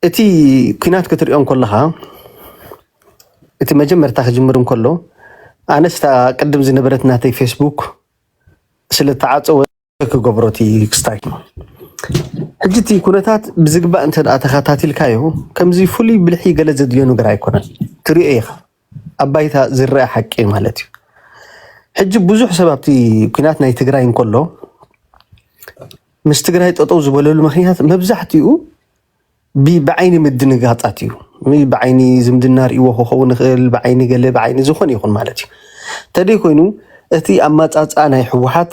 እቲ ኩናት ክትሪኦ እንኮለኻ እቲ መጀመርታ ክጅምር እንከሎ ኣነስ እታ ቅድም ዝነበረት ናተይ ፌስቡክ ስለተዓፀወ ክገብሮ እቲ ክስታይ ሕጂ እቲ ኩነታት ብዝግባእ እንተ ተኸታቲልካዮ ከምዚ ፍሉይ ብልሒ ገለ ዘድልዮ ነገር ኣይኮነን ትሪኦ ኢኻ ኣብ ባይታ ዝረኣ ሓቂ ማለት እዩ። ሕጂ ብዙሕ ሰብ ኣብቲ ኩናት ናይ ትግራይ እንከሎ ምስ ትግራይ ጠጠው ዝበለሉ ምክንያት መብዛሕትኡ ብዓይኒ ምድንጋፃት እዩ። ብዓይኒ ዝምድና ርእይዎ ክኸውን ይኽእል፣ ብዓይኒ ገለ ብዓይኒ ዝኾነ ይኹን ማለት እዩ። ተደይ ኮይኑ እቲ ኣመፃፅኣ ናይ ህወሓት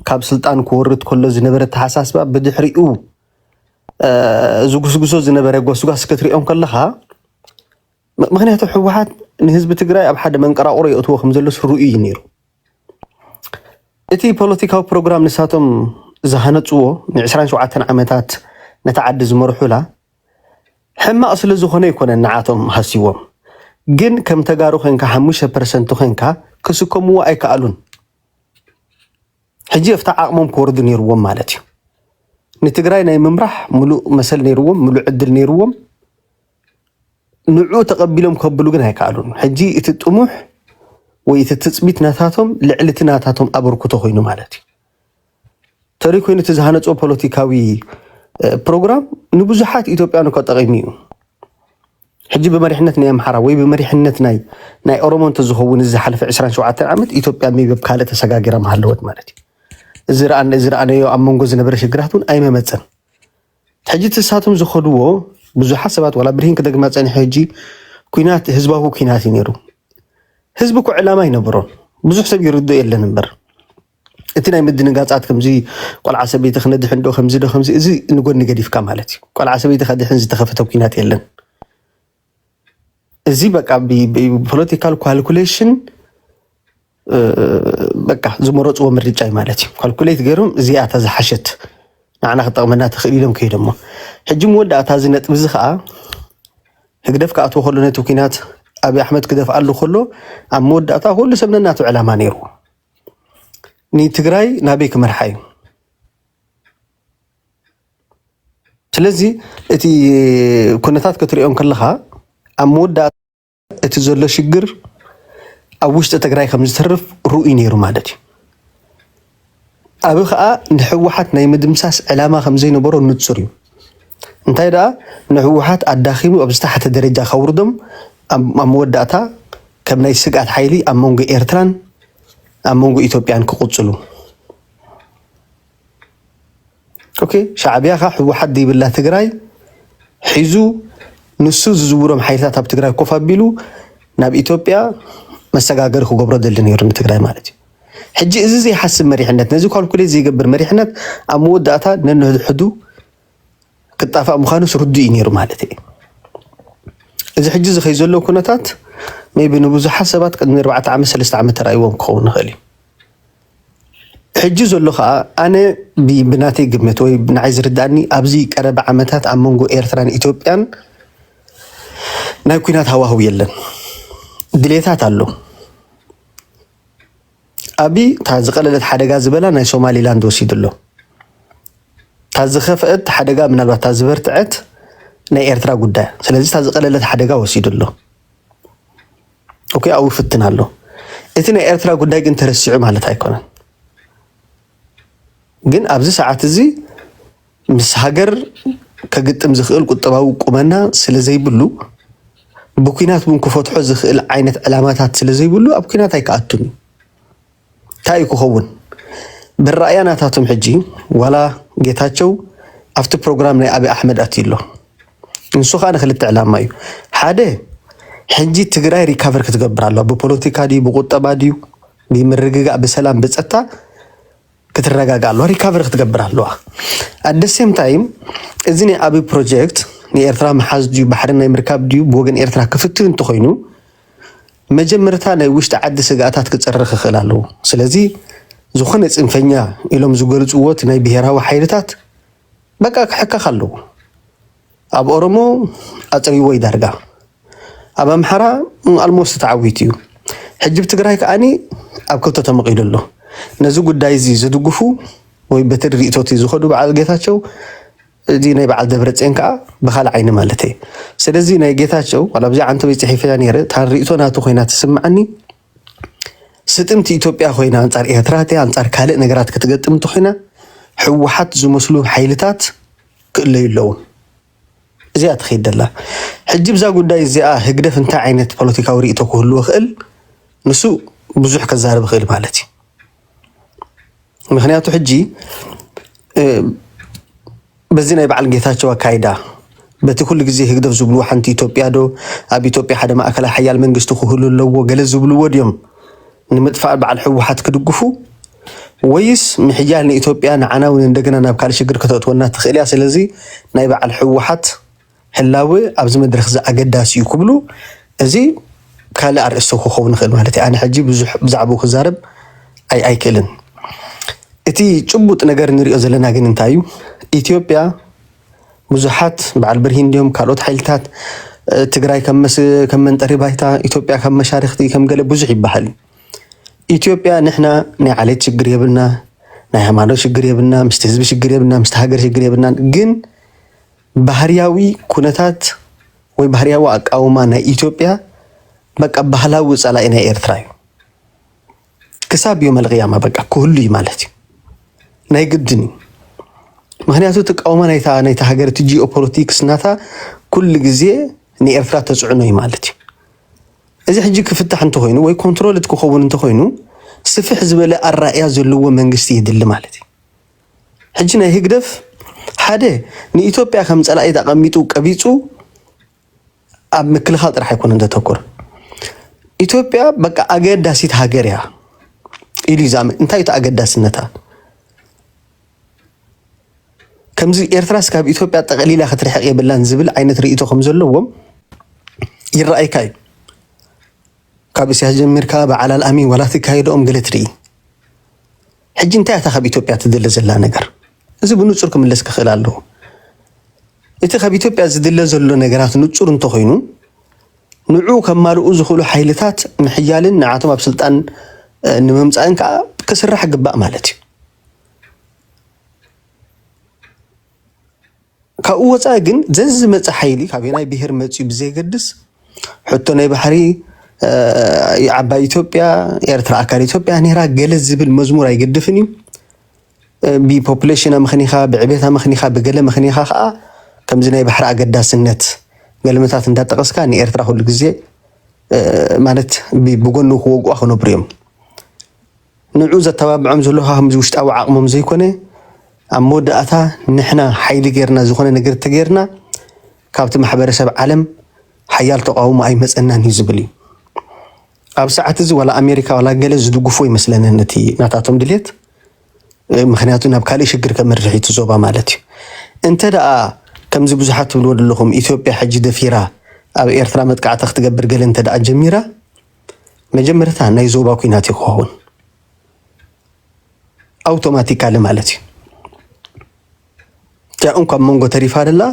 ካብ ስልጣን ክወርድ ከሎ ዝነበረ ተሓሳስባ ብድሕሪኡ ዝጉስጉሶ ዝነበረ ጎስጓስ ክትሪኦ ከለኻ ምክንያቱ ህወሓት ንህዝቢ ትግራይ ኣብ ሓደ መንቀራቑሮ የእትዎ ከምዘሎስ ርኡይ እዩ ነይሩ። እቲ ፖለቲካዊ ፕሮግራም ንሳቶም ዝሃነፅዎ ንዕስራን ሸውዓተን ዓመታት ነታ ዓዲ ዝመርሑላ ሕማቕ ስለዝኾነ ኣይኮነን ንዓቶም ሃስይዎም። ግን ከም ተጋሩ ኮንካ ሓሙሽተ ፐርሰንት ኮንካ ክስከምዎ ኣይከኣሉን። ሕጂ ኣብቲ ዓቕሞም ክወርዱ ነይርዎም ማለት እዩ። ንትግራይ ናይ ምምራሕ ምሉእ መሰል ነይርዎም፣ ምሉእ ዕድል ነይርዎም። ንዑ ተቐቢሎም ከብሉ ግን ኣይከኣሉን። ሕጂ እቲ ጥሙሕ ወይ እቲ ትጽቢት ናታቶም ልዕሊ እቲ ናታቶም ኣበርክቶ ኮይኑ ማለት እዩ ተሪ ኮይኑ እቲ ዝሃነጾ ፖለቲካዊ ፕሮግራም ንብዙሓት ኢትዮጵያን እኮ ጠቒሙ እዩ። ሕጂ ብመሪሕነት ናይ ኣምሓራ ወይ ብመሪሕነት ናይ ናይ ኦሮሞ እንተዝኸውን እዚ ዝሓለፈ 27 ዓመት ኢትዮጵያ ሜቢ ኣብ ካልእ ተሰጋጊራ ምሃለወት ማለት እዩ። እዚ ረኣ እዚ ረኣነዮ ኣብ መንጎ ዝነበረ ሽግራት እውን ኣይመመፀን። ሕጂ እቲ ንሳቶም ዝኸድዎ ብዙሓት ሰባት ዋላ ብርሂን ክደግማ ፀኒሐ ሕጂ ኩናት ህዝባዊ ኩናት እዩ ነይሩ። ህዝቢ እኮ ዕላማ ይነበሮን ብዙሕ ሰብ ይርድኦ የለን እምበር እቲ ናይ ምድንጋፃት ከምዚ ቆልዓ ሰበይቲ ክነድሕን ዶ ከምዚ ዶ ከምዚ እዚ ንጎኒ ገዲፍካ ማለት እዩ። ቆልዓ ሰበይቲ ከድሕን ዝተኸፈተ ኩናት የለን። እዚ በቃ ብፖለቲካል ኳልኩሌሽን በቃ ዝመረፅዎ ምርጫ እዩ ማለት እዩ። ኳልኩሌት ገይሮም እዚኣ እታ ዝሓሸት ንዓና ክጠቕመና ትኽእል ኢሎም ከይዶሞ ሕጂ መወዳእታ እዚ ነጥቢ እዚ ከዓ ህግደፍ ክኣትዎ ከሎ ነቲ ኩናት ኣብዪ ኣሕመድ ክደፍኣሉ ከሎ ኣብ መወዳእታ ኩሉ ሰብ ነናቱ ዕላማ ነይሩ ንትግራይ ናበይ ክመርሓ እዩ ስለዚ እቲ ኩነታት ክትሪኦ ከለካ ኣብ መወዳእታ እቲ ዘሎ ሽግር ኣብ ውሽጢ ትግራይ ከምዝተርፍ ርኡይ ነይሩ ማለት እዩ። ኣብ ከዓ ንሕወሓት ናይ ምድምሳስ ዕላማ ከምዘይነበሮ ንፁር እዩ። እንታይ ደኣ ንሕወሓት ኣዳኪሙ ኣብ ዝተሓተ ደረጃ ከውርዶም ኣብ መወዳእታ ከም ናይ ስግኣት ሓይሊ ኣብ መንጎ ኤርትራን ኣብ መንጎ ኢትዮጵያን ክቕፅሉ ሻዕቢያ ከ ህወሓት ዘይብላ ትግራይ ሒዙ ንሱ ዝዝውሮም ሓይልታት ኣብ ትግራይ ኮፍ ኣቢሉ ናብ ኢትዮጵያ መሰጋገሪ ክገብሮ ደሊ ነይሩ ንትግራይ ማለት እዩ። ሕጂ እዚ ዘይሓስብ መሪሕነት ነዚ ኳልኩሌት ዘይገብር መሪሕነት ኣብ መወዳእታ ነንሕድሕዱ ክጣፋእ ምዃኑ ርዱእ እዩ ነይሩ ማለት እዩ። እዚ ሕጂ እዚ ከይ ዘሎ ኩነታት ሜይ ቢ ንብዙሓት ሰባት ቅድሚ ኣርባዕተ ዓመት ሰለስተ ዓመት ተራእይዎም ክኸውን ይኽእል እዩ። ሕጂ ዘሎ ከኣ ኣነ ብናተይ ግምት ወይ ንዓይ ዝርድኣኒ ኣብዚ ቀረባ ዓመታት ኣብ መንጎ ኤርትራን ኢትዮጵያን ናይ ኩናት ሃዋህው የለን። ድሌታት ኣሎ። ኣቢ እታ ዝቐለለት ሓደጋ ዝበላ ናይ ሶማሊላንድ ወሲዱ ኣሎ። እታ ዝኸፍአት ሓደጋ ምናልባት እታ ዝበርትዐት ናይ ኤርትራ ጉዳይ። ስለዚ እታ ዝቐለለት ሓደጋ ወሲዱ ኣሎ። ኦኬ ኣብኡ ፍትን ኣሎ። እቲ ናይ ኤርትራ ጉዳይ ግን ተረሲዑ ማለት ኣይኮነን። ግን ኣብዚ ሰዓት እዚ ምስ ሃገር ከግጥም ዝኽእል ቁጠባዊ ቁመና ስለ ዘይብሉ ብኩናት እውን ክፈትሖ ዝኽእል ዓይነት ዕላማታት ስለ ዘይብሉ ኣብ ኩናት ኣይክኣቱን እዩ። ታይ እዩ ክኸውን መራእያ ናታቶም ሕጂ ዋላ ጌታቸው ኣብቲ ፕሮግራም ናይ ኣብይ ኣሕመድ ኣትዩ ኣሎ ንሱ ካኣ ንክልተ ዕላማ እዩ ሓደ ሕጂ ትግራይ ሪካቨር ክትገብር ኣለዋ ብፖለቲካ ድዩ ብቁጠባ ድዩ ብምርግጋእ ብሰላም ብፀጥታ ክትረጋጋ ኣለዋ ሪካቨር ክትገብር ኣለዋ ኣደሴም ታይም እዚ ናይ ኣብይ ፕሮጀክት ንኤርትራ መሓዝ ድዩ ባሕሪ ናይ ምርካብ ድዩ ብወገን ኤርትራ ክፍትን እንተኮይኑ መጀመርታ ናይ ውሽጢ ዓዲ ስግኣታት ክፅሪ ክኽእል ኣለዎ። ስለዚ ዝኾነ ፅንፈኛ ኢሎም ዝገልፅዎ እቲ ናይ ብሄራዊ ሓይልታት በቃ ክሕከኽ ኣለዎ። ኣብ ኦሮሞ ኣፅሪዎ እዩ ዳርጋ ኣብ ኣምሓራ ኣልሞስት ተዓዊቱ እዩ። ሕጂ ብ ትግራይ ከዓኒ ኣብ ክልተ ተመቒሉ ኣሎ። ነዚ ጉዳይ እዚ ዝድግፉ ወይ በቲ ርእይቶ እቲ ዝኸዱ በዓል ጌታቸው እዚ ናይ በዓል ደብረፅዮን ከዓ ብካልእ ዓይኒ ማለት እየ። ስለዚ ናይ ጌታቸው ዋላ ብዚ ዓንተበይ ፅሒፈያ ነይረ እታ ርእቶ ናቱ ኮይና ትስምዓኒ ስጥምቲ ኢትዮጵያ ኮይና ኣንፃር ኤርትራ እትያ ኣንፃር ካልእ ነገራት ክትገጥም እንተኮይና ህወሓት ዝመስሉ ሓይልታት ክእለዩ ኣለዎም። እዚኣ ትኸይድ ደላ ሕጂ ብዛ ጉዳይ እዚኣ ህግደፍ እንታይ ዓይነት ፖለቲካዊ ርእቶ ክህልዎ ክእል ንሱ ብዙሕ ከዛርብ ክእል ማለት እዩ። ምክንያቱ ሕጂ በዚ ናይ በዓል ጌታቸው ኣካይዳ በቲ ኩሉ ግዜ ህግደፍ ዝብልዎ ሓንቲ ኢትዮጵያ ዶ ኣብ ኢትዮጵያ ሓደ ማእከላይ ሓያል መንግስቲ ክህሉ ኣለዎ ገለ ዝብልዎ ድዮም ንምጥፋእ በዓል ህወሓት ክድግፉ ወይስ ምሕያል ንኢትዮጵያ ንዓና እውን እንደገና ናብ ካልእ ሽግር ከተእትወና ትኽእል እያ ስለዚ ናይ በዓል ህወሓት ህላወ ኣብዚ መድረኽዚ ኣገዳሲ እዩ ክብሉ እዚ ካልእ ኣርእስቲ ክኸውን ይኽእል ማለት እዩ። ኣነ ሕጂ ብዙሕ ብዛዕባኡ ክዛረብ ኣይክእልን። እቲ ጭቡጥ ነገር ንሪኦ ዘለና ግን እንታይ እዩ? ኢትዮጵያ ብዙሓት በዓል ብርሂን እንዲዮም ካልኦት ሓይልታት ትግራይ ከም መንጠሪ ባይታ ኢትዮጵያ ከም መሻርክቲ ከም ገለ ብዙሕ ይበሃል ኢትዮጵያ ንሕና ናይ ዓሌት ሽግር የብልና ናይ ሃይማኖት ሽግር የብልና ምስቲ ህዝቢ ሽግር የብልና ምስቲ ሃገር ሽግር የብልና ግን ባህርያዊ ኩነታት ወይ ባህርያዊ ኣቃውማ ናይ ኢትዮጵያ በቃ ባህላዊ ጸላኢ ናይ ኤርትራ እዩ። ክሳብ ዮም ኣልቅያማ በቃ ክህሉ እዩ ማለት እዩ። ናይ ግድን እዩ። ምክንያቱ እቲ ኣቃውማ ናይታ ናይታ ሃገር እቲ ጂኦፖለቲክስ ናታ ኩሉ ግዜ ንኤርትራ ተጽዕኖ እዩ ማለት እዩ። እዚ ሕጂ ክፍታሕ እንተኾይኑ ወይ ኮንትሮልድ ክኸውን እንተኾይኑ ስፍሕ ዝበለ ኣራእያ ዘለዎ መንግስቲ የድሊ ማለት እዩ። ሕጂ ናይ ህግደፍ ሓደ ንኢትዮጵያ ከም ጸላኢት ኣቐሚጡ ቀቢጹ ኣብ ምክልኻል ጥራሕ ኣይኮነን ዘተኩር ኢትዮጵያ በቃ ኣገዳሲት ሃገር እያ ኢሉ እዩ ዝኣምን። እንታይ እቲ ኣገዳስነታ ከምዚ ኤርትራስ ካብ ኢትዮጵያ ጠቕሊላ ክትርሕቕ የብላን ዝብል ዓይነት ርእይቶ ከም ዘለዎም ይረኣይካ እዩ። ካብ እስያስ ጀሚርካ በዓል ኣልኣሚን ዋላ ትካየደኦም ገለ ትርኢ ሕጂ እንታይ እታ ካብ ኢትዮጵያ ትድለ ዘላ ነገር እዚ ብንጹር ክምለስ ክኽእል ኣለዎ። እቲ ካብ ኢትዮጵያ ዝድለ ዘሎ ነገራት ንጹር እንተኾይኑ ንዑ ከማልኡ ዝኽእሉ ሓይልታት ምሕያልን ንዓቶም ኣብ ስልጣን ንምምፃእን ከዓ ክስራሕ ግባእ ማለት እዩ። ካብኡ ወፃኢ ግን ዘዝመፀ ሓይሊ ካበየናይ ብሄር መፂኡ ብዘየገድስ ሕቶ ናይ ባሕሪ ዓባይ ኢትዮጵያ ኤርትራ ኣካል ኢትዮጵያ ነይራ ገለ ዝብል መዝሙር ኣይገድፍን እዩ። ብፖፕሌሽን ኣመኽኒኻ ብዕቤት ኣመኽኒኻ ብገለ ኣመኽኒኻ ከዓ ከምዚ ናይ ባሕሪ ኣገዳስነት ገልምታት እንዳጠቐስካ ንኤርትራ ኩሉ ግዜ ማለት ብጎኑ ክወግኡ ክነብሩ እዮም። ንዑ ዘተባብዖም ዘሎ ካብዚ ውሽጣዊ ዓቕሞም ዘይኮነ ኣብ መወዳእታ ንሕና ሓይሊ ጌርና ዝኾነ ነገር ተጌርና ካብቲ ማሕበረሰብ ዓለም ሓያል ተቓውሞ ኣይመጸናን እዩ ዝብል እዩ። ኣብ ሰዓት እዚ ዋላ ኣሜሪካ ዋላ ገለ ዝድግፎ ይመስለኒ ነቲ ናታቶም ድሌት ምክንያቱ ናብ ካልእ ሽግር ከምርሕ እቲ ዞባ ማለት እዩ እንተ ደኣ ከምዚ ብዙሓት ትብልዎ ዘለኹም ኢትዮጵያ ሕጂ ደፊራ ኣብ ኤርትራ መጥቃዕቲ ክትገብር ገለ እንተ ደኣ ጀሚራ መጀመርታ ናይ ዞባ ኩናት እዩ ክኸውን ኣውቶማቲካሊ ማለት እዩ እቲኣ እንኳብ መንጎ ተሪፋ ደላ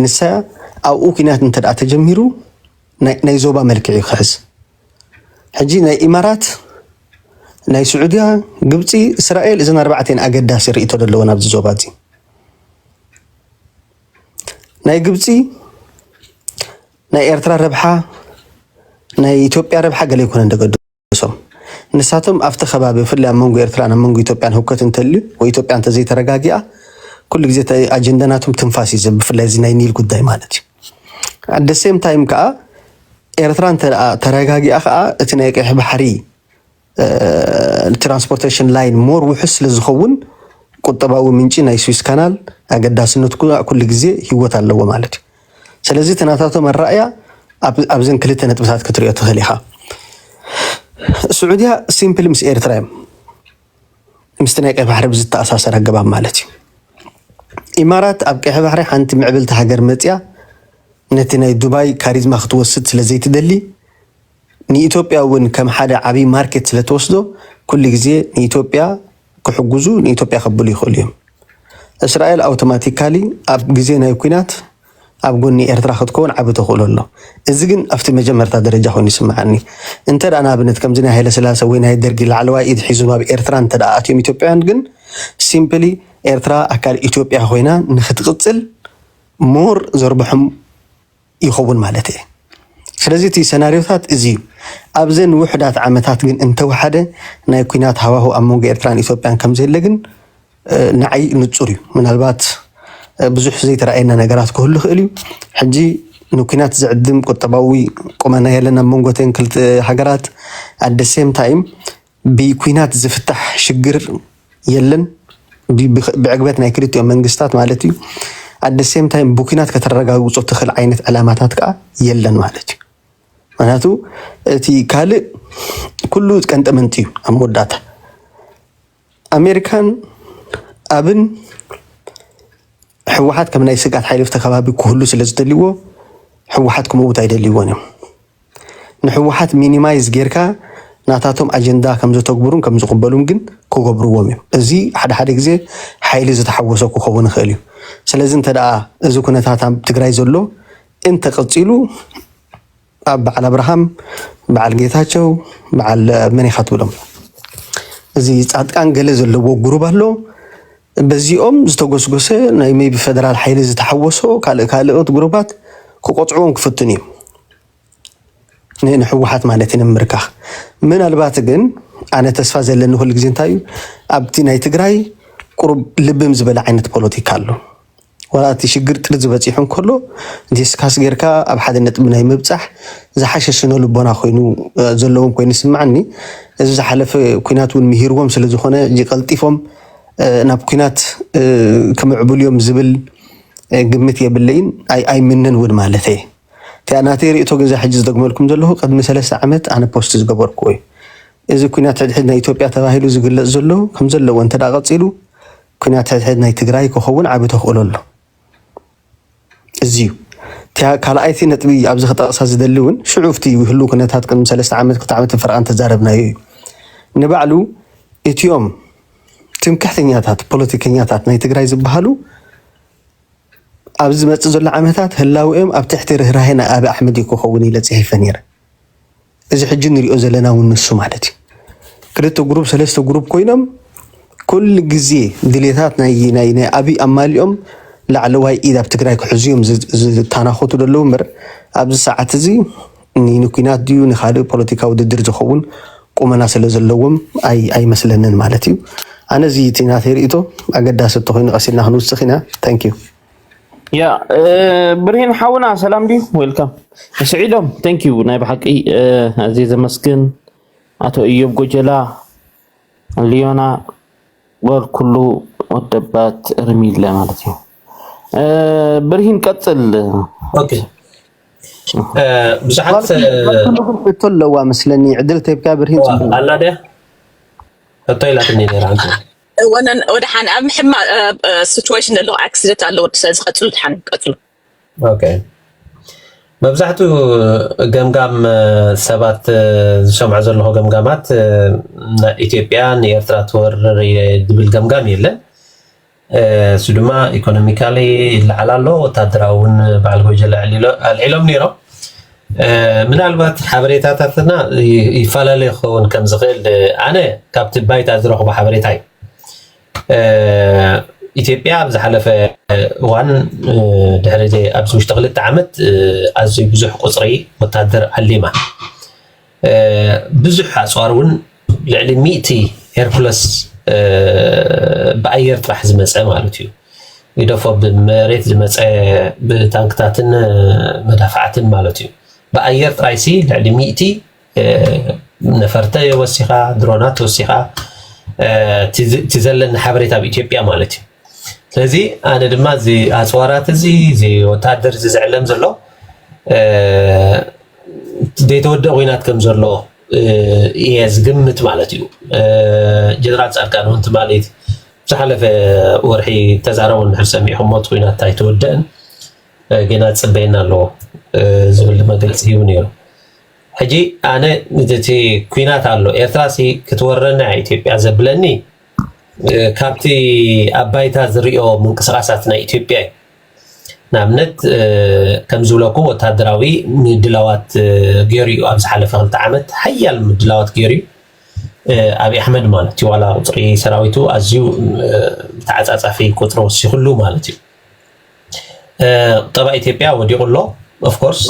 ንሳ ኣብኡ ኩናት እንተ ተጀሚሩ ናይ ዞባ መልክዕ እዩ ክሕዝ ሕጂ ናይ ኢማራት ናይ ስዑድያ ግብፂ እስራኤል እዘን ኣርባዕተን ኣገዳሲ ርእቶ ዘለወን ኣብዚ ዞባ እዚ ናይ ግብፂ ናይ ኤርትራ ረብሓ ናይ ኢትዮጵያ ረብሓ ገለ ይኮነ እንደገድሶም ንሳቶም ኣብቲ ከባቢ ብፍላይ ኣብ መንጎ ኤርትራን ኣብ መንጎ ኢትዮጵያን ህውከት እንተልዩ ወይ ኢትዮጵያ እንተዘይተረጋጊኣ ኩሉ ግዜ ኣጀንዳ ናቶም ትንፋስ እዩ ብፍላይ እዚ ናይ ኒል ጉዳይ ማለት እዩ ኣደ ሴም ታይም ከዓ ኤርትራ እንተ ተረጋጊኣ ከዓ እቲ ናይ ቀይሕ ባሕሪ ንትራንስፖርቴሽን ላይን ሞር ውሑስ ስለ ዝኸውን ቁጠባዊ ምንጪ ናይ ስዊስ ካናል ኣገዳስነቱ ኩሉ ግዜ ህይወት ኣለዎ ማለት እዩ። ስለዚ እቲ ናታቶም ኣረኣእያ ኣብዘን ክልተ ነጥብታት ክትሪኦ ትኽእል ኢኻ። ስዑድያ ሲምፕል ምስ ኤርትራ እዮም ምስቲ ናይ ቀይ ባሕሪ ብዝተኣሳሰር ኣገባብ ማለት እዩ። ኢማራት ኣብ ቀይሕ ባሕሪ ሓንቲ ምዕብልቲ ሃገር መፅያ ነቲ ናይ ዱባይ ካሪዝማ ክትወስድ ስለ ዘይትደሊ ንኢትዮጵያ እውን ከም ሓደ ዓብይ ማርኬት ስለትወስዶ ኩሉ ግዜ ንኢትዮጵያ ክሕጉዙ ንኢትዮጵያ ከብሉ ይክእሉ እዮም። እስራኤል ኣውተማቲካሊ ኣብ ግዜ ናይ ኩናት ኣብ ጎኒ ኤርትራ ክትከውን ዓቢ ተክእሎ ኣሎ። እዚ ግን ኣብቲ መጀመርታ ደረጃ ኮይኑ ይስምዓኒ። እንተ ንኣብነት ከምዚ ናይ ሃይለስላሰ ወይ ናይ ደርጊ ላዕለዋይ ኢድ ሒዞም ኣብ ኤርትራ እንተ ኣትዮም ኢትዮጵያውያን ግን ሲምፕሊ ኤርትራ ኣካል ኢትዮጵያ ኮይና ንክትቅጽል ሞር ዘርብሖም ይኸውን ማለት እየ። ስለዚ እቲ ሰናርዮታት እዚ እዩ። ኣብዘን ውሑዳት ዓመታት ግን እንተወሓደ ናይ ኩናት ሃዋሁ ኣብ መንጎ ኤርትራን ኢትዮጵያን ከምዘየለ ግን ንዓይ ንጹር እዩ። ምናልባት ብዙሕ ዘይተረኣየና ነገራት ክህሉ ይኽእል እዩ። ሕጂ ንኩናት ዝዕድም ቁጠባዊ ቁመና የለን ኣብ መንጎተን ክልተ ሃገራት። ኣደ ሴም ታይም ብኩናት ዝፍታሕ ሽግር የለን ብዕግበት ናይ ክልቲኦም መንግስታት ማለት እዩ። ኣደ ሴም ታይም ብኩናት ከተረጋግፆ ትኽእል ዓይነት ዕላማታት ከዓ የለን ማለት እዩ። ምክንያቱ እቲ ካልእ ኩሉ ቀንጠመንጢ እዩ ኣብ መወዳእታ ኣሜሪካን ኣብን ህወሓት ከም ናይ ስግኣት ሓይሊ ተከባቢ ክህሉ ስለዝደልይዎ ህወሓት ክመውት ኣይደልይዎን እዮም። ንሕወሓት ሚኒማይዝ ጌርካ ናታቶም ኣጀንዳ ከምዘተግብሩን ከምዝቕበሉን ግን ክገብርዎም እዮም። እዚ ሓደ ሓደ ግዜ ሓይሊ ዝተሓወሶ ክኸውን ይኽእል እዩ። ስለዚ እንተ እዚ ኩነታት ኣብ ትግራይ ዘሎ እንተቐፂሉ ኣብ በዓል ኣብርሃም፣ በዓል ጌታቸው፣ በዓል መን ኢኻ ትብሎም እዚ ፃድቃን ገለ ዘለዎ ጉሩብ ኣሎ በዚኦም ዝተጎስጎሰ ናይ maybe ፈደራል ሓይሊ ዝተሓወሶ ካልእ ካልኦት ጉሩባት ክቆጽዕዎም ክፍትኑ እዮም ን ንሕወሓት ማለት እዩ ንምምርካኽ ምናልባት ግን ኣነ ተስፋ ዘለኒ ኩሉ ግዜ እንታይ እዩ ኣብቲ ናይ ትግራይ ቁሩብ ልብም ዝበለ ዓይነት ፖለቲካ ኣሎ ዋላ እቲ ሽግር ጥርዚ በጺሑ እንከሎ ዲስካስ ጌርካ ኣብ ሓደ ነጥቢ ናይ ምብጻሕ ዝሓሸ ስነልቦና ኮይኑ ዘለዎም ኮይኑ ይስምዓኒ። እዚ ዝሓለፈ ኩናት እውን ምሂርዎም ስለዝኾነ ጀቀልጢፎም ናብ ኩናት ክምዕብሉ እዮም ዝብል ግምት የብለይን ኣይምንን እውን ማለተይ እየ። እቲኣ ናተይ ርእይቶ ግን እዛ ሕጂ ዝደግመልኩም ዘለኹ ቅድሚ ሰለስተ ዓመት ኣነ ፖስት ዝገበርኩዎ እዩ። እዚ ኩናት ሕድሕድ ናይ ኢትዮጵያ ተባሂሉ ዝግለጽ ዘሎ ከምዘለዎ እንተድኣ ቀጺሉ ኩናት ሕድሕድ ናይ ትግራይ ክኸውን ዓቢ ተኽእሎ ኣሎ እዚዩ። እቲያ ካልኣይቲ ነጥቢ ኣብዚ ክጠቕሳ ዝደሊ እውን ሽዑ ፍቲ ህሉ ኩነታት ቅድሚ ሰለስተ ዓመት ክልተ ዓመት ፈረቓን ተዛረብናዮ እዩ ንባዕሉ እቲኦም ትምክሕተኛታት ፖለቲከኛታት ናይ ትግራይ ዝበሃሉ ኣብዚ ዝመፅእ ዘሎ ዓመታት ህላውኦም ኣብ ትሕቲ ርህራሄ ናይ ኣቢ ኣሕመድ እዩ ክኸውን ኢለ ፅሒፈ ነይረ። እዚ ሕጂ ንሪኦ ዘለና እውን ንሱ ማለት እዩ። ክልተ ጉሩብ ሰለስተ ጉሩብ ኮይኖም ኩሉ ግዜ ድሌታት ናይ ኣብይ ኣማሊኦም ላዕለዋይ ኢድ ኣብ ትግራይ ክሕዙ እዮም ዝታናኾቱ ዘለዉ እምበር ኣብዚ ሰዓት እዚ ንኩናት ድዩ ንካልእ ፖለቲካ ውድድር ዝኸውን ቁመና ስለ ዘለዎም ኣይመስለንን ማለት እዩ። ኣነ እዚ እቲ ናተይ ርእይቶ ኣገዳሲ እንተኾይኑ ቀስ ኢልና ክንውስኽ ኢና። ታንኪዩ ያ ብርሂን ሓውና ሰላም ድዩ ዌልካም ስዒዶም ቴንክ ዩ ናይ ብሓቂ ኣዝየ ዘመስግን ኣቶ እዮብ ጎጀላ ሊዮና ጎል ኩሉ ወደባት ርሚለ ማለት እዩ ብርሂን ቀፅል ብዙሓት ሕቶ ኣለዋ መስለኒ ዕድል ተብካ ብርሂን ኣላ ድያ ሕቶ ኢላትኒ ነራ ወነን ወደሓን ኣብ ሕማቅ ሲትዌሽን ዘሎ ኣክሲደንት ኣለዎ ስለዚ ቀፅሉ ድሓን ቀፅሉ ኦኬ መብዛሕትኡ ገምጋም ሰባት ዝሰምዖ ዘለኹ ገምጋማት ኢትዮጵያ ንኤርትራ ትወርር ዝብል ገምጋም የለን እሱ ድማ ኢኮኖሚካሊ ይለዓል ኣሎ ወታደራዊ እውን በዓል ጎጀለ ኣልዒሎም ነይሮም ምናልባት ሓበሬታታትና ይፈላለ ክኸውን ከም ዝኽእል ኣነ ካብቲ ባይታ ዝረኽቦ ሓበሬታ እዩ ኢትዮጵያ ኣብ ዝሓለፈ እዋን ድሕሪ ኣብዚ ውሽጢ ክልተ ዓመት ኣዝዩ ብዙሕ ቁፅሪ ወታደር ዓሊማ ብዙሕ ኣፅዋር እውን ልዕሊ ሚእቲ ሄርኩለስ ብኣየር ጥራሕ ዝመፀ ማለት እዩ ይደፎ ብመሬት ዝመፀ ብታንክታትን መዳፋዕትን ማለት እዩ ብኣየር ጥራይ ሲ ልዕሊ ሚእቲ ነፈርተ ወሲኻ ድሮናት ወሲኻ እቲ ዘለኒ ሓበሬታ ኣብ ኢትዮጵያ ማለት እዩ ስለዚ ኣነ ድማ እዚ ኣፅዋራት እዚ እዚ ወታደር እዚ ዝዕለም ዘሎ ዘይተወደኣ ኹናት ከም ዘሎ እየ ዝግምት ማለት እዩ። ጀነራል ፃድቃን እውን ትማሊ ዝሓለፈ ወርሒ ተዛረቡ እንድሕር ሰሚዕኹምዎ እቲ ኹናት ኣይተወደእን ገና ዝፅበየና ኣሎ ዝብል መግለፂ ሂቡ ነይሩ። ሕጂ ኣነ እቲ ኲናት ኣሎ ኤርትራ ሲ ክትወረና እያ ኢትዮጵያ ዘብለኒ ካብቲ ኣብ ባይታ ዝሪኦ ምንቅስቓሳት ናይ ኢትዮጵያ እዩ። ንኣብነት ከም ዝብለኩ ወታደራዊ ምድላዋት ገይሩ እዩ ኣብ ዝሓለፈ ክልተ ዓመት ሓያል ምድላዋት ገይሩ እዩ ኣብይ ኣሕመድ ማለት እዩ ዋላ ቁፅሪ ሰራዊቱ ኣዝዩ ተዓፃፃፊ ቁፅሪ ወሲክሉ ማለት እዩ ቁጠባ ኢትዮጵያ ወዲቁ ኣሎ ኦፍኮርስ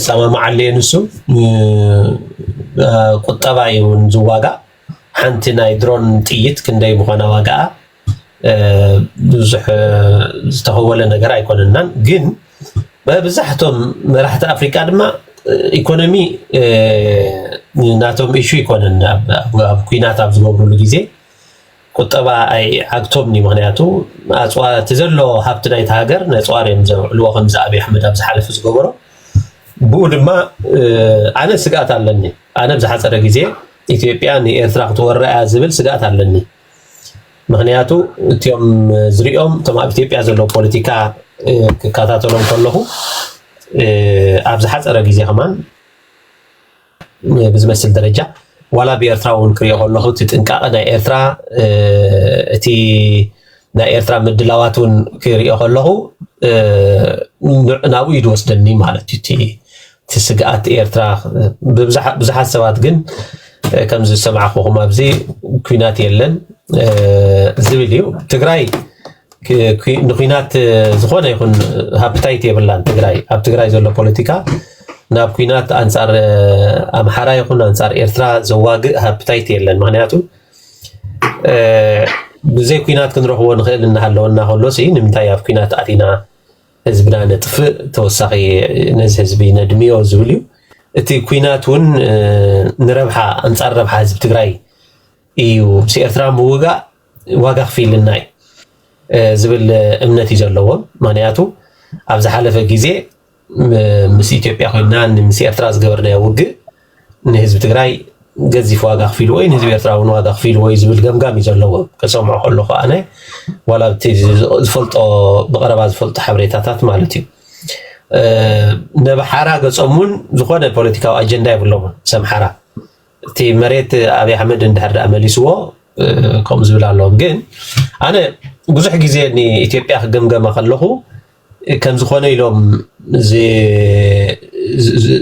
ሰማማዓሉ እየ ንሱ ቁጠባ እዩ ዝዋጋእ ሓንቲ ናይ ድሮን ጥይት ክንደይ ምዃና ዋጋኣ ብዙሕ ዝተኸወለ ነገር ኣይኮነናን ግን መብዛሕቶም መራሕቲ ኣፍሪቃ ድማ ኢኮኖሚ ናቶም ኢሹ ይኮነን ኣብ ኩናት ኣብ ዝገብሩሉ ግዜ ቁጠባ ኣይዓግቶምኒ ምክንያቱ ኣፅዋ እቲ ዘሎ ሃብቲ ናይቲ ሃገር ነፅዋር እዮም ዘውዕልዎ ከምዚ ኣብዪ ኣሕመድ ኣብ ዝሓለፈ ዝገበሮ ብኡ ድማ ኣነ ስግኣት ኣለኒ ኣነ ብዝሓፀረ ግዜ ኢትዮጵያ ንኤርትራ ክትወራ እያ ዝብል ስግኣት ኣለኒ ምክንያቱ እትኦም ዝሪኦም እቶም ኣብ ኢትዮጵያ ዘለዉ ፖለቲካ ክከታተሎም ከለኩ ኣብ ዝሓፀረ ግዜ ከማን ብዝመስል ደረጃ ዋላ ብኤርትራዊ እውን ክሪኦ ከለኩ እቲ ጥንቃቐ ናይ ኤርትራ እቲ ናይ ኤርትራ ምድላዋት እውን ክሪኦ ከለኩ ናብኡ እዩ ዝወስደኒ ማለት እዩ እቲ እቲ ስግኣት ኤርትራ ብዙሓት ሰባት ግን ከምዚ ዝሰማዕኹኹም ኣብዚ ኩናት የለን ዝብል እዩ ትግራይ ንኩናት ዝኾነ ይኹን ሃፕታይት የብላን ትግራይ ኣብ ትግራይ ዘሎ ፖለቲካ ናብ ኩናት ኣንፃር ኣምሓራ ይኹን ኣንፃር ኤርትራ ዘዋግእ ሃፕታይት የለን ምክንያቱ ብዘይ ኩናት ክንረኽቦ ንኽእል እናሃለወና ከሎሲ ንምንታይ ኣብ ኩናት ኣቲና ህዝብና ነጥፍእ ተወሳኺ ነዚ ህዝቢ ነድምዮ ዝብል እዩ እቲ ኩናት እውን ንረብሓ ኣንፃር ረብሓ ህዝቢ ትግራይ እዩ ምስ ኤርትራ ምውጋእ ዋጋ ክፍይልና እዩ ዝብል እምነት እዩ ዘለዎም ምክንያቱ ኣብ ዝሓለፈ ግዜ ምስ ኢትዮጵያ ኮይና ምስ ኤርትራ ዝገበርናዮ ውግእ ንህዝቢ ትግራይ ገዚፍ ዋጋ ኣኽፊልዎ እዩ፣ ንህዝቢ ኤርትራ እውን ዋጋ ኣኽፊልዎ እዩ ዝብል ገምጋም እዩ ዘለዎም። ክሰምዖ ከለኹ ኣነ ዋላ ኣብቲ ዝፈልጦ ብቐረባ ዝፈልጦ ሓበሬታታት ማለት እዩ ነብሓራ ገጾም እውን ዝኾነ ፖለቲካዊ ኣጀንዳ የብሎምን ሰምሓራ እቲ መሬት ኣብይ ኣሕመድ እንድሕር ደኣ መሊስዎ ከምኡ ዝብል ኣለዎም። ግን ኣነ ብዙሕ ግዜ ንኢትዮጵያ ክገምገማ ከለኹ ከምዝኾነ ኢሎም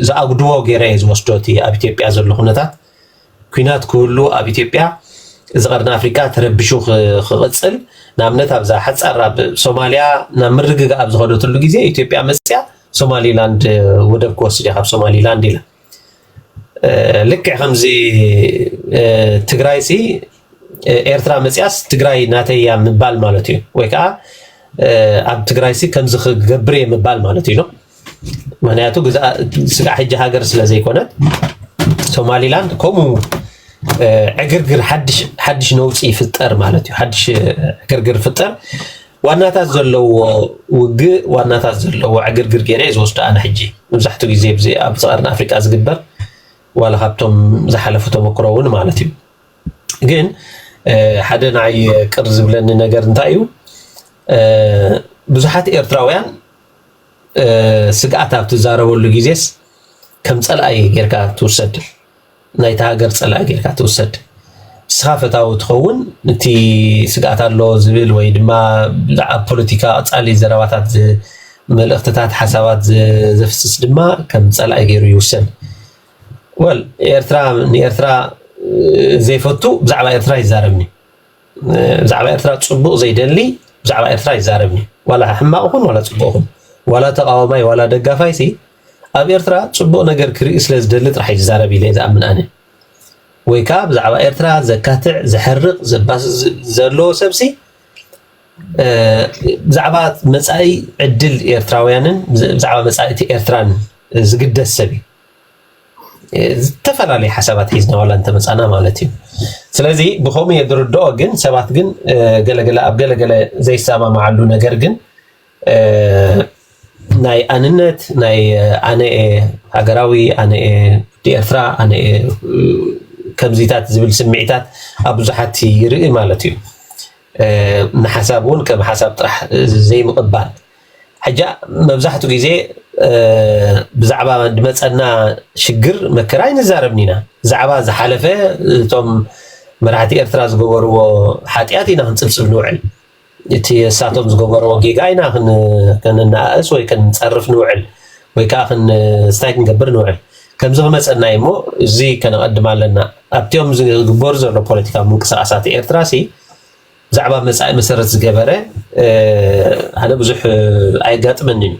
ዝኣጉድዎ ገይረ እየ ዝወስዶ እቲ ኣብ ኢትዮጵያ ዘሎ ኩነታት። ኩናት ክህሉ ኣብ ኢትዮጵያ እዚ ቀርኒ ኣፍሪቃ ተረቢሹ ክቕጽል ንኣብነት ኣብዛ ሓጻር ኣብ ሶማልያ ናብ ምርግጋእ ኣብ ዝኸደትሉ ግዜ ኢትዮጵያ መጽያ ሶማሊላንድ ወደብ ክወስድ እየ ካብ ሶማሊላንድ ኢላ። ልክዕ ከምዚ ትግራይ ሲ ኤርትራ መፅያስ ትግራይ ናተይ እያ ምባል ማለት እዩ ወይ ከዓ ኣብ ትግራይ ሲ ከምዚ ክገብር እየ ምባል ማለት እዩ ምክንያቱ ስጋዕ ሕጂ ሃገር ስለ ዘይኮነት ሶማሊላንድ ከምኡ ዕግርግር ሓድሽ ነውፂ ይፍጠር ማለት እዩ ሓድሽ ዕግርግር ፍጠር ዋናታት ዘለዎ ውግእ ዋናታት ዘለዎ ዕግርግር ገይረ እየ ዝወስዶ ኣነ ሕጂ መብዛሕትኡ ግዜ ብዚ ኣብ ቀርኒ ኣፍሪቃ ዝግበር ዋላ ካብቶም ዝሓለፉ ተመክሮ እውን ማለት እዩ ግን ሓደ ንዓይ ቅር ዝብለኒ ነገር እንታይ እዩ ብዙሓት ኤርትራውያን ስግኣት ኣብ ትዛረበሉ ግዜስ ከም ፀላኢ ጌርካ ትውሰድ ናይታ ሃገር ጸላኢ ጌርካ ትውሰድ ንስኻ ፈታዊ ትኸውን እቲ ስግኣት ኣሎ ዝብል ወይ ድማ ኣብ ፖለቲካ ቀጻሊ ዘረባታት መልእኽትታት ሓሳባት ዘፍስስ ድማ ከም ጸላኢ ገይሩ ይውሰድ ወል ኤርትራ ንኤርትራ ዘይፈቱ ብዛዕባ ኤርትራ ይዛረብኒ ብዛዕባ ኤርትራ ጽቡቕ ዘይደሊ ብዛዕባ ኤርትራ ይዛረብኒ ዋላ ሕማቕ ኹን ዋላ ጽቡቕ ኹን ዋላ ተቃዋማይ ዋላ ደጋፋይሲ ኣብ ኤርትራ ጽቡቅ ነገር ክርኢ ስለ ዝደሊ ጥራሕ እዩ ዝዛረብ ኢለ ዝኣምን ኣነ ወይ ከኣ ብዛዕባ ኤርትራ ዘካትዕ ዘሐርቅ ዘባስስ ዘለዎ ሰብሲ ብዛዕባ መጻኢ ዕድል ኤርትራውያንን ብዛዕባ መጻኢ እቲ ኤርትራን ዝግደስ ሰብ እዩ ዝተፈላለዩ ሓሳባት ሒዝና ዋላ እንተመፃና ማለት እዩ ስለዚ ብከምኡ እየ ዝርድኦ ግን ሰባት ግን ገለገለ ኣብ ገለገለ ዘይሰማማዓሉ ነገር ግን ናይ ኣንነት ናይ ኣነ እየ ሃገራዊ ኣነ እየ ወዲ ኤርትራ ኣነ እየ ከምዚታት ዝብል ስምዒታት ኣብ ብዙሓት ይርኢ ማለት እዩ። ንሓሳብ እውን ከም ሓሳብ ጥራሕ ዘይምቕባል ሕጃ መብዛሕትኡ ግዜ ብዛዕባ ድመፀና ሽግር መከራ ኣይንዛረብን ኢና ብዛዕባ ዝሓለፈ እቶም መራሕቲ ኤርትራ ዝገበርዎ ሓጥያት ኢና ክንፅብፅብ ንውዕል። እቲ እሳቶም ዝገበርዎ ጌጋ ኢና ከነነኣእስ ወይ ከንጸርፍ ንውዕል ወይ ከኣ ስታይ ክንገብር ንውዕል ከምዚ ክመጸና እዩ እሞ እዚ ከነቐድም ኣለና ኣብቲኦም ዝግበሩ ዘሎ ፖለቲካዊ ምንቅስቓሳት ኤርትራ ሲ ብዛዕባ መጻኢ መሰረት ዝገበረ ኣነ ብዙሕ ኣየጋጥመንን እዩ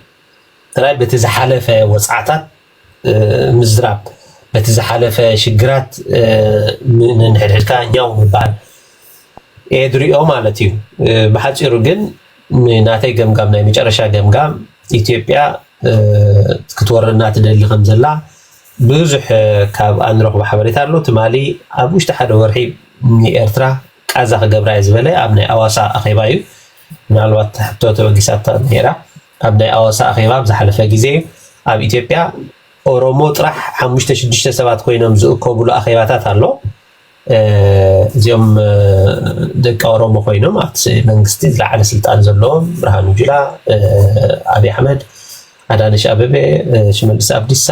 ጥራይ በቲ ዝሓለፈ ወጽዓታት ምዝራብ በቲ ዝሓለፈ ሽግራት ንንሕድሕድካ ኛው ምባል እየ ዝሪኦ ማለት እዩ። ብሓፂሩ ግን ናተይ ገምጋም ናይ መጨረሻ ገምጋም ኢትዮጵያ ክትወረና ትደሊ ከምዘላ ብዙሕ ካብኣ ንረኽቦ ሓበሬታ ኣሎ። ትማሊ ኣብ ውሽጢ ሓደ ወርሒ ንኤርትራ ቃዛ ክገብራ እየ ዝበለ ኣብ ናይ ኣዋሳ ኣኼባ እዩ። ምናልባት ሕቶ ተበጊሳታ ነይራ። ኣብ ናይ ኣዋሳ ኣኼባ ኣብ ዝሓለፈ ግዜ ኣብ ኢትዮጵያ ኦሮሞ ጥራሕ ሓሙሽተ ሽዱሽተ ሰባት ኮይኖም ዝእከቡሉ ኣኼባታት ኣሎ። እዚኦም ደቂ ኦሮሞ ኮይኖም ኣብቲ መንግስቲ ዝለዓለ ስልጣን ዘለዎም ብርሃኑ ጁላ፣ ኣብይ ኣሕመድ፣ ኣዳነሽ ኣበቤ፣ ሽመልስ ኣብዲሳ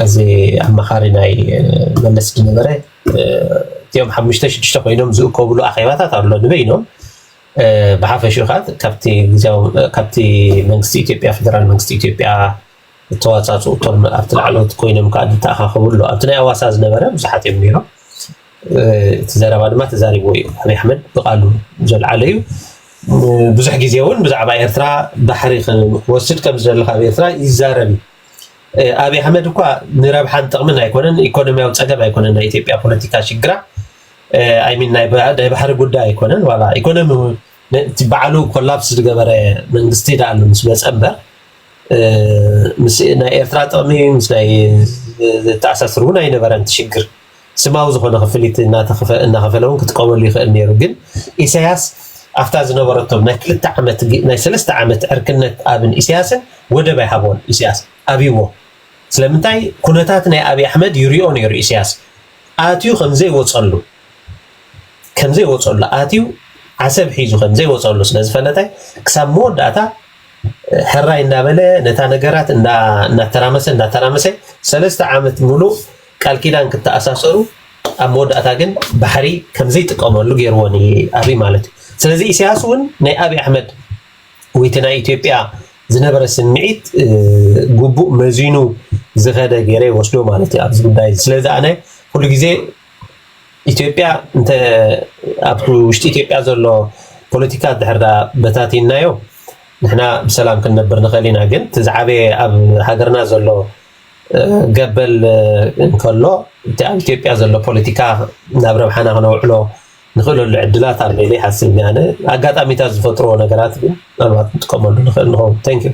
እዚ ኣማኻሪ ናይ መለስ ዝነበረ እቲኦም ሓሙሽተ ሽዱሽተ ኮይኖም ዝእከቡሉ ኣኼባታት ኣሎ ንበይኖም ብሓፈሽኡ ከኣ ካብቲ ግዝያዊ ካብቲ መንግስቲ ኢትዮጵያ ፈደራል መንግስቲ ኢትዮጵያ እተዋጻጽኡ እቶም ኣብቲ ላዕለዎት ኮይኖም ከኣ ዝተኣኻኸቡ ኣሎ ኣብቲ ናይ ኣዋሳ ዝነበረ ብዙሓት እዮም ነይሮም እቲ ዘረባ ድማ ተዛሪብዎ እዩ ኣብይ ኣሕመድ ብቃሉ ዘልዓለ እዩ ብዙሕ ግዜ እውን ብዛዕባ ኤርትራ ባሕሪ ክወስድ ከም ዝደሊ ካብ ኤርትራ ይዛረብ እዩ ኣብይ ኣሕመድ እኳ ንረብሓን ጥቕምን ኣይኮነን ኢኮኖሚያዊ ፀገም ኣይኮነን ናይ ኢትዮጵያ ፖለቲካ ሽግራ ኣይ ሚን ናይ ባሕሪ ጉዳይ ኣይኮነን ዋላ ኢኮኖሚ እቲ ባዕሉ ኮላፕስ ዝገበረ መንግስቲ ዳኣ ምስ መፀ እምበር ናይ ኤርትራ ጥቕሚ ምስ ናይ ዝተኣሳስር እውን ኣይነበረን እቲ ሽግር ስማዊ ዝኾነ ክፍሊት እናኸፈለ እውን ክጥቀመሉ ይኽእል ነይሩ ግን ኢሳያስ ኣብታ ዝነበረቶም ናይ ክልተ ዓመት ናይ ሰለስተ ዓመት ዕርክነት ኣብን ኢሳያስን ወደብ ኣይሃቦን ኢሳያስ ኣብይዎ ስለምንታይ ኩነታት ናይ ኣብይ ኣሕመድ ይሪኦ ነይሩ ኢሳያስ ኣትዩ ከምዘይወፀሉ ከምዘይወፀሉ ኣትዩ ዓሰብ ሒዙ ከምዘይወፀሉ ስለዝፈለጠ ክሳብ መወዳእታ ሕራይ እንዳበለ ነታ ነገራት እናተራመሰ እናተራመሰ ሰለስተ ዓመት ሙሉእ ቃል ኪዳን ክተኣሳሰሩ ኣብ መወዳእታ ግን ባሕሪ ከምዘይጥቀመሉ ገይርዎ ኣብይ ማለት እዩ። ስለዚ ኢሳያስ እውን ናይ ኣብይ ኣሕመድ ወይቲ ናይ ኢትዮጵያ ዝነበረ ስምዒት ግቡእ መዚኑ ዝኸደ ገይረ ይወስዶ ማለት እዩ ኣብዚ ጉዳይ እዚ። ስለዚ ኣነ ኩሉ ግዜ ኢትዮጵያ እንተ ኣብቲ ውሽጢ ኢትዮጵያ ዘሎ ፖለቲካ ድሕር ዳ በታቲንናዮ ንሕና ብሰላም ክንነብር ንኽእል ኢና። ግን እቲ ዝዓበየ ኣብ ሃገርና ዘሎ ገበል እንከሎ እቲ ኣብ ኢትዮጵያ ዘሎ ፖለቲካ ናብ ረብሓና ክነውዕሎ ንኽእለሉ ዕድላት ኣሎ ኢለ ይሓስብ እኔ ኣነ ኣጋጣሚታት ዝፈጥርዎ ነገራት ግን ምናልባት ክንጥቀመሉ ንኽእል ንኸውን። Thank you።